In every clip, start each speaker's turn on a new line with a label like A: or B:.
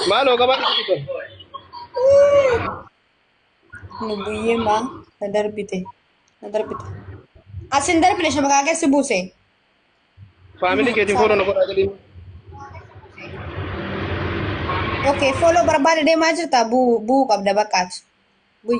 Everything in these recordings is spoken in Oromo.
A: Maaloo qabaa dhufu
B: kun. Lubbuyyee maa na darbite na darbite. Asin darbine shamakaa keessi buuse.
A: Faamilii keetiin fooloo na godhaa jedhiin.
B: Okay, follow barbaada deemaa jirta buu buu qabda baqqaati. Bui.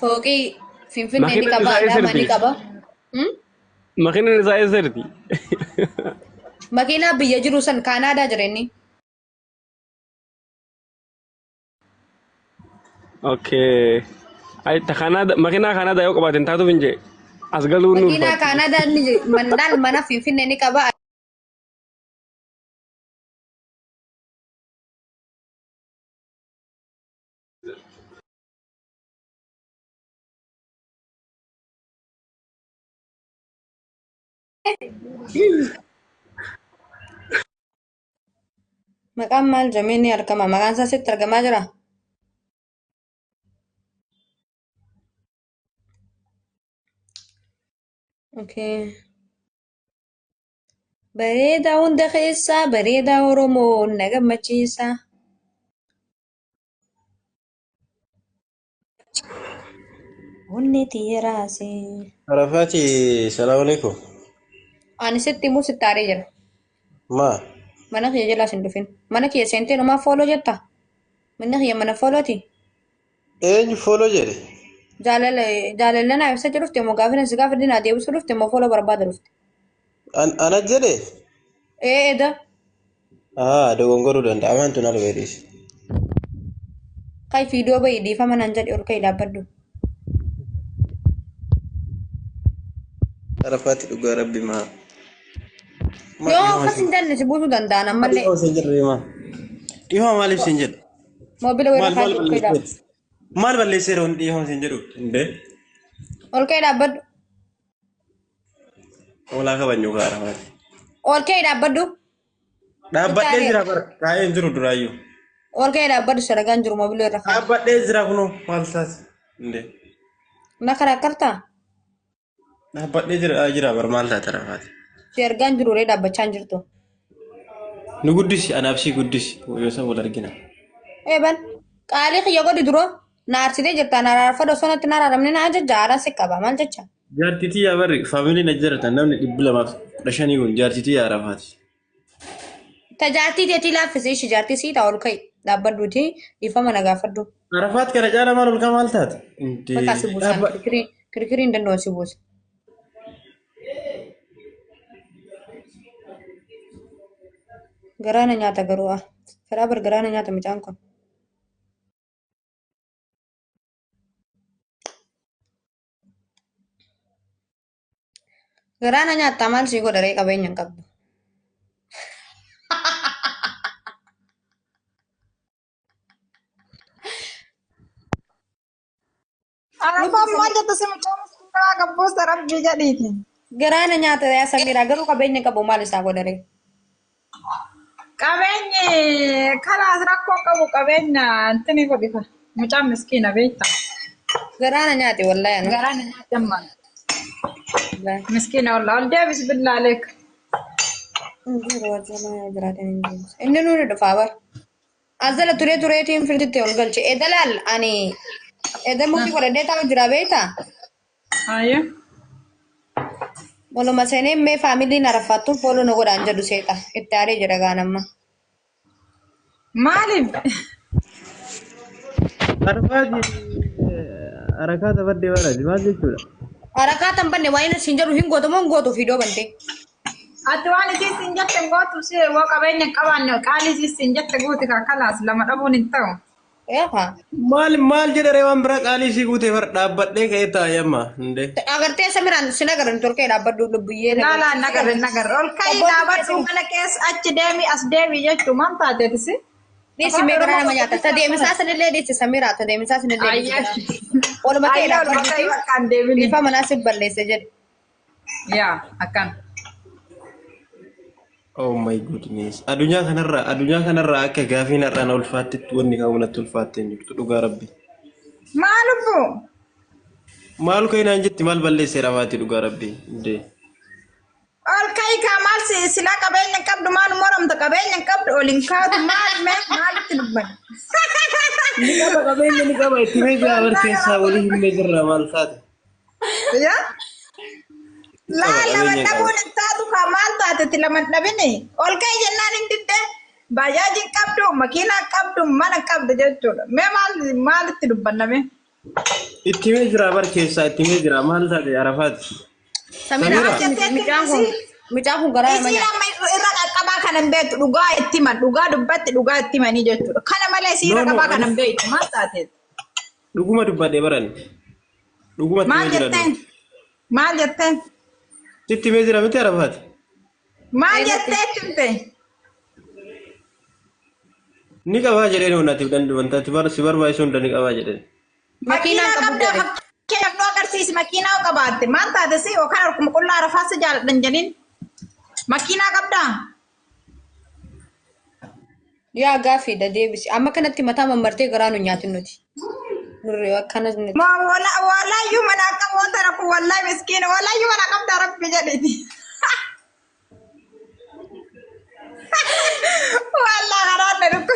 B: Fooqii Finfinnee ni Makiinaan qaba, isaa Adaamaa ni eessatti? qaba. Hmm?
C: Makiinaan isaa eessatti? Makiinaa
B: biyya jiru san Kaanaadaa jira inni.
C: Okay. Ay, ta Kanada, makiinaa Kanada yoo qabaateen taatuuf hin jee. As galuu nuuf Makiinaa taatu. Kaanaadaa ni jira.
B: Mandaan mana Finfinnee ni qaba. Maqaan maal jedhamee ni argama? Maqaan isaa sitti argamaa jira? Okay. Bareedaa hunda keessaa bareedaa Oromoo na gammachiisa. Bunni tiiraase. Arafaati
A: salaamu alaikum. Ani
B: sitti immoo sitti aaree jira. Maa
A: Mana kiyya
B: jalaas hin dhufin. Mana kiyya seentee numaa fooloo jetta. Manni kiyya mana foolooti. eenyu
A: fooloo jedhe?
B: Jaalala jaalala naa ibsa jedhufte immoo gaafina si gaafa dinaa deebisuu dhufte immoo fooloo barbaada dhufte. An ana
A: jedhe? Ee eda Aa dogongoruu danda'a waan tun alwee dhiisi.
B: Kai fiidoo bahi dhiifama nan jedhe ol ka'i dhaabbadhu.
A: Arafaatti dhugaa rabbi maa.
B: Yoo akkas hin danne si buusuu danda'an ammallee Dhihoo sin jedhu maa.
A: Dhihoo maaliif sin jedhu? moobila Maal weerra
B: maal kaasee ol ka'i balleesseera? dhaabbadhu. Maal balleesseera
A: wanti dhihoo sin jedhu? Hundee. Ol
B: ka'i dhaabbadhu.
A: Hoolaa kabajnu gaara maati. Oolkee
B: dhaabbadhu.
A: Dhaabbadhee jira bara. Taa'ee hin jiru duraayyuu. Oolkee
B: dhaabbadhu saragaan jiru mobilii irra kaa'e. Dhaabbadhee jira kunoo maal
A: taas. Indee. Na
B: karakkartaa?
A: Dhaabbadhee jira aa, jira bara maal taate rafaati. Si argaan jiru
B: ree dhaabbachaa hin jirtu.
A: Nu guddisi anaaf sii guddisi. Yoo san wal argina. Eebal
B: qaalii kiyya godhi duroo. Na arsitee jirta na araarfadhu osoo natti hin araaramne na ajajja aaraan si qaba maal jecha. Jaartitii yaa barri
A: faamiliin ajjaratan namni dhibbi lamaaf kudha shanii kun jaartitii yaa arafaati.
B: Ta jaartii teetii laaffisii ishii jaartii sii ta'a ol ka'i dhaabbadhuuti dhiifama na gaafadhu. Arafaat kana caala
A: maal olkaa maal taate? Bakka si buusaan Dhaabba-
B: kirkirii kirkirii hin danda'u si buusa. Garaana nyaata garuu ah. Karaa bar garaana nyaata mucaan kun. Garaa na nyaattaa maal sii godha ree qabeenya hin qabdu.
D: Arafaan maal jettu si mucaa miskiinaa gabbuusa rabbii jedhiiti. Garaa na nyaata
B: yaa Samiraa garuu qabeenya qabu maal isaa godhare.
D: Qabeenyi kalaas rakkoo qabu qabeenya intini godhika. Mucaan miskiina beekta. Garaa na
B: nyaate wallahi ani. Garaa na nyaate amma.
D: Wallahi. Miskiina wallah ol deebis billaa leek.
B: Inni nu dhufa bar. As jala turee tureetiin firditti ol galche. Eda laal ani eda mukii godhadhee taa'u jira beektaa? Haaya. Maluma seenee mee faamiliin araffaattuun fooloo na godhaan jedhu seexa. Itti aaree jira gaanamma.
D: Maaliif? Arfaati
A: harakaa taphadde baanaati maal jechuudha? Harakaa tan banne
B: waan inni siin jedhu hin gootu moo hin gootu fiidoo bantee. Ati
D: waan isii siin jette hin gootu si yoo qabeenya hin qabaanne qaalii isii siin jette guuti kaa kalaas lama dhabuun hin ta'u. Eefa.
B: Maal maal
A: jedhare waan biraa qaalii isii guutee far dhaabbadhee ka'ee taa'ee amma hundee. Agartee Samiraan
B: sin agarran turkee dhaabbadhu lubbuyyee. Laalaa hin agarre hin
D: agarre ol ka'ii Obbo dhaabadhu Dubbisuu. mana keessa achi deemi as deemi jechuu maal taateeti si? Dhiisi mee garaa
B: nama nyaata. Ta deemisaa sanillee dhiisi Samiraa ta deemisaa sanillee dhiisi. Ayyaa. Oluma kee Ayyaa ol dhaabbadhu. bakka bakka hin deemini. Dhiifaa manaa si balleesse jedhe. Yaa
D: akkana.
A: Oh my goodness. Addunyaa kanarraa addunyaa kanarraa akka gaafiin har'aan ulfaattetti wanni ka'u natti ulfaattee hin jirtu dhugaa rabbi. Maa
D: lubbuu?
A: Maal ka'e naan jetti maal balleesseera maati dhugaa rabbi. Indee.
D: Ol ka'i kaa maal si silaa qabeenya hin qabdu maal moramta qabeenya hin qabdu ol hin kaatu maal mee maalitti dubbata? Ni qaba qabeenya
A: ni qaba itti mee jaabar keessaa walii hin jirra maal taate. Yaa?
D: Laa Qaba, lama qabeenya dhabuun qaba. hin taatu kaa maal taatetti lama hin dhabini. Ol ka'e jennaan hin didde. Baajaaji hin qabdu, makiina hin qabdu, mana hin qabdu jechuudha. Mee maal maalitti dubbanname? Itti
A: mee jira bar keessaa itti mee jira maal taate arafaati. Samira Samira.
B: akkam miti mucaan kun mucaan kun garaa nama Isiin nyaata. amma irra qaqqabaa kana
D: hin beektu dhugaa itti himan dhugaa dubbatti dhugaa itti himanii jechuudha. Kana malee isiin No, irra no, qabaa kana ani- hin beektu maal taateetti? Dhuguma
A: dubbadhe barani. Dhuguma itti Maal mee jira jetteen? dura.
D: Maal jetteen? Itti mee
A: jira miti arafaati. Maal
D: Ee, jettee jette?
A: Ni qabaa jedheen wanati wanta ati bar si barbaachisu hunda ni qabaa jedheen. Makiinaa Makiinaa qabda
D: qabda. fakkeenyaaf nu agarsiisi makiinaa qabaatte maal taate si yookaan harkuma qullaa arafaa si jaaladhan jedhin makiinaa qabdaa?
B: Yaa gaaffiidha deebisi. Amma kanatti mataa mammartee garaa nu nyaatin nuti. Nurri akkanas nuti. Ma wala wala yu
D: mana akka wanta rakku wallahi miskina wala yu mana qabda rabbi jedhiti. Wala garaa na dhukku.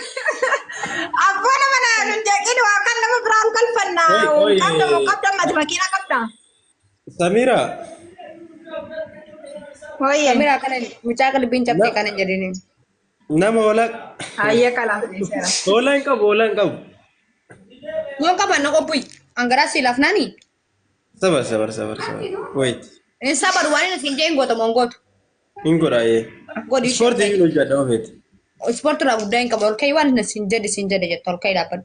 D: Abboo nama na hin jeqin waa kan nama biraan kalfanna. Oi, oi. Qabda moo qabda mati makiina qabda. Samira,
A: Hooyyee.
D: Samira kana mucaa
B: qalbiin cabsee kana jedhini. nama
A: hoolaa Hayyee kalaaf
D: dhiiseera. hoolaa hin qabu, hoolaa hin
A: qabu.
B: Yoon qaban na qophuyi. Angaraa si lafnaani. Sabar,
A: sabar, sabar, sabar. Wait, Hin sabaru
B: waan inni siin jee hin gootamu hin gootu. hin godhaa ee.
A: Godhi ishee Ispoortii
B: hin hojjedha
A: ofeeti. Ispoortii irraa
B: guddaa hin qabu. Ol ka'ii waan inni siin jedhe siin jedhe jettu ol ka'ii dhaabbadhu.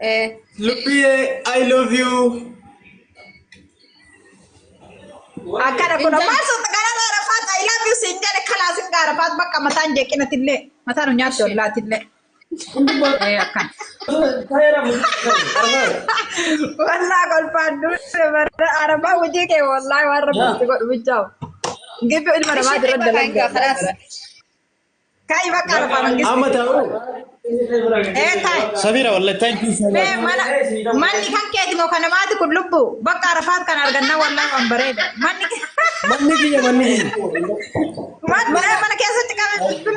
D: Eh, Lubbiye,
A: I love you.
D: akkana kun ammaa sun gara gaarafaat I love you siin jedhe kalaasin gaarafaat bakka mataan jeeqinatillee mataan nyaatti ollaatillee. Eh, akkana. Wallaa kolfaan duute bara arabaa hojii kee wallaa waan rabbitti godhu bichaa'u. Gibbi ilma namaa dura Kalaas. dalagaa. Kai bakka arfaa Amma mangisti. taa'u.
A: Ee
D: tai. Sabiira wallahi
A: thank you so Mee much. mana manni kan keeti
D: moo kana maati kun lubbu bakka arafaat kan argannaa wallahi waan bareeda. Manni Manni
A: kiyya manni kiyya. manni
D: mana keessatti qabee kun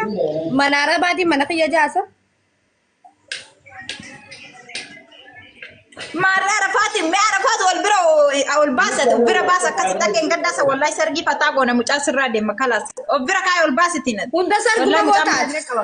D: Mana arabaatiin
B: mana kiyya jaasa.
D: Maarree arafaati mee arafaatu wal bira o- ol baasa of bira baasa akkasitti akka hin gaddaasa wallahi sargii fataa goona mucaa sirraa deema kalaas of bira kaa'e ol baasiti nati. Hunda sarguma Wallahi mucaan gootaati.
B: baay'inee qaba.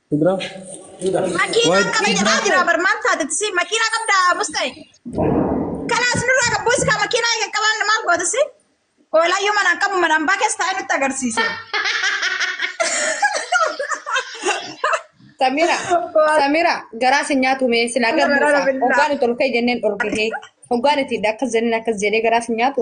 C: Kudraa.
D: Makiinaa Waay, qaba jedhaa Kudraa. jira bar maal taatetti si makiinaa qabda musta'e. Kanaa isinirraa qabbu iskaa makiinaa eegan qabaan maal goote si? Oolaayyuu manaan qabu manaan baa keessa taa'ee nutti agarsiise.
B: Samira, Waan- Samira, garaa si nyaatu mee sila Samira, garbuudha. rabillaa. Hoggaan itti ol ka'e jenneen dhorgee. Hoggaan itti akkas jenneen akkas jedhee garaa si nyaatu.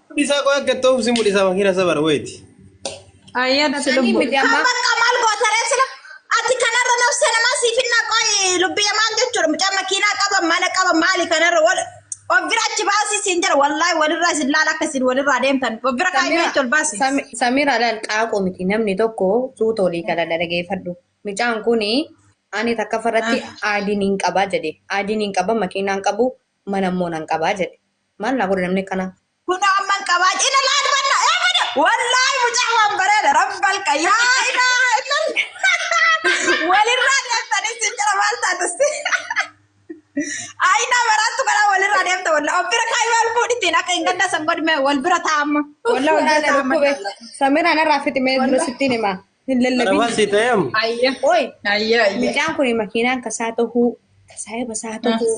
D: Mudhisaa qoy akka
A: itti oofsi mudhisaa makiina sabar wayti. Ayyaa
D: dati Sanii lubbu. miti amma. Bakka maal gootaree sila ati kanarra nafsa namaa siif hin naqoy lubbiya maal jechuudha mucaa makiinaa qaba mana qaba maali kanarra wal of bira achi baasii siin jira wallaahi walirraa isin laala akka isin walirraa deemtan of bira kaa'imee Samira, achi ol baasii. Sami- Samira laal
B: qaaquu miti namni tokko suuta olii gala dhaggeeffadhu. Mucaan kun ani takka farratti aadiin hin qabaa jedhe. Aadiin hin qaba makiinaan qabu mana immoo nan qabaa jedhe. Maal naa godha namni akkanaa? Kun amman qabaa
D: cina laal banna ee bada wallaahi mucaa waan bareeda rabbal qayyaa ilaa ilal walirraa deemtanii si jira maal taatus ayinaa maraattu kanaa walirraa deemta walla of bira kaayii wal fuudhitiin akka hin gaddaa san godhime wal bira taa'amma walla wal bira taa'amma Samiraan irraa
B: fiximee dura sittiin himaa. Hin Arafaa lallabin. sii ta'eem.
A: Ayya. Oi, Ayya
D: ayya.
B: mucaan
D: kun makiinaan
B: kasaa tahuu, kasaa basaa tahuu,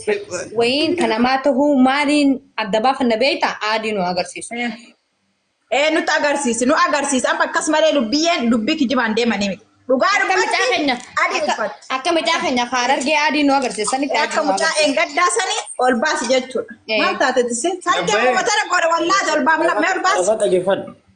B: wayiin ka namaa tahuu maaliin adda baafanna beektaa? Aadii nu agarsiisu.
D: Ee nutti agarsiisi nu agarsiisi amma akkas malee lubbiyyeen dubbii kijibaan deemanii miti. Dhugaa Akka mucaa dubbatti keenya
B: adii akka- uffatti. akka mucaa keenya faarargee aadii nu agarsiisanitti aadii Akka nu mucaa agarsiisu. eengaddaa
D: sanii ol baasi jechuudha. Ee. Maal taate tisi? Sargee Abbee. uummatara godha wallaahi ol baafna mee ol baasi. Arafaa dhageeffadhu.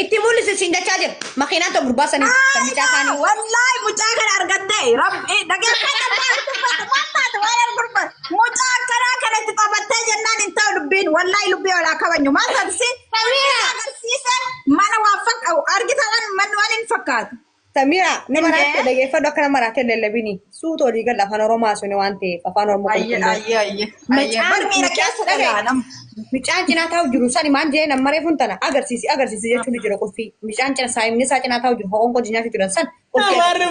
B: Itti mul'isi siin jechaa jira. Makiinaan ta'u gurbaa sanii kan mucaa isaanii. Wallahi mucaa kana
D: argattee rabbi dhageeffata taatu waan argurba mucaa akkanaa kana itti taphattee jennaan hin ta'u dubbiin wallahi lubbii walaa kabajnu maal taatisi agarsiise mana waan fakkaatu argita waan manni waan hin fakkaatu. Samira nama Indee.
B: raatte dhageeffadhu akka nama raatte lallabini. Suuta olii gala afaan Oromoo haasofne waan ta'eef afaan Oromoo Ayye qulqulluu. ayye ayye. Ayye Macaan
D: bar miira keessa mucaan dhagaye. olaanam. Mucaan cinaa
B: taa'u jiru sani maan jeen amma reefuun tana agarsiisi agarsiisi jechuun ni jira qulfii. Mucaan cina saayimni isaa cinaa taa'u jiru ho'oon qojii nyaachuu jiran san qulfii. Amaarri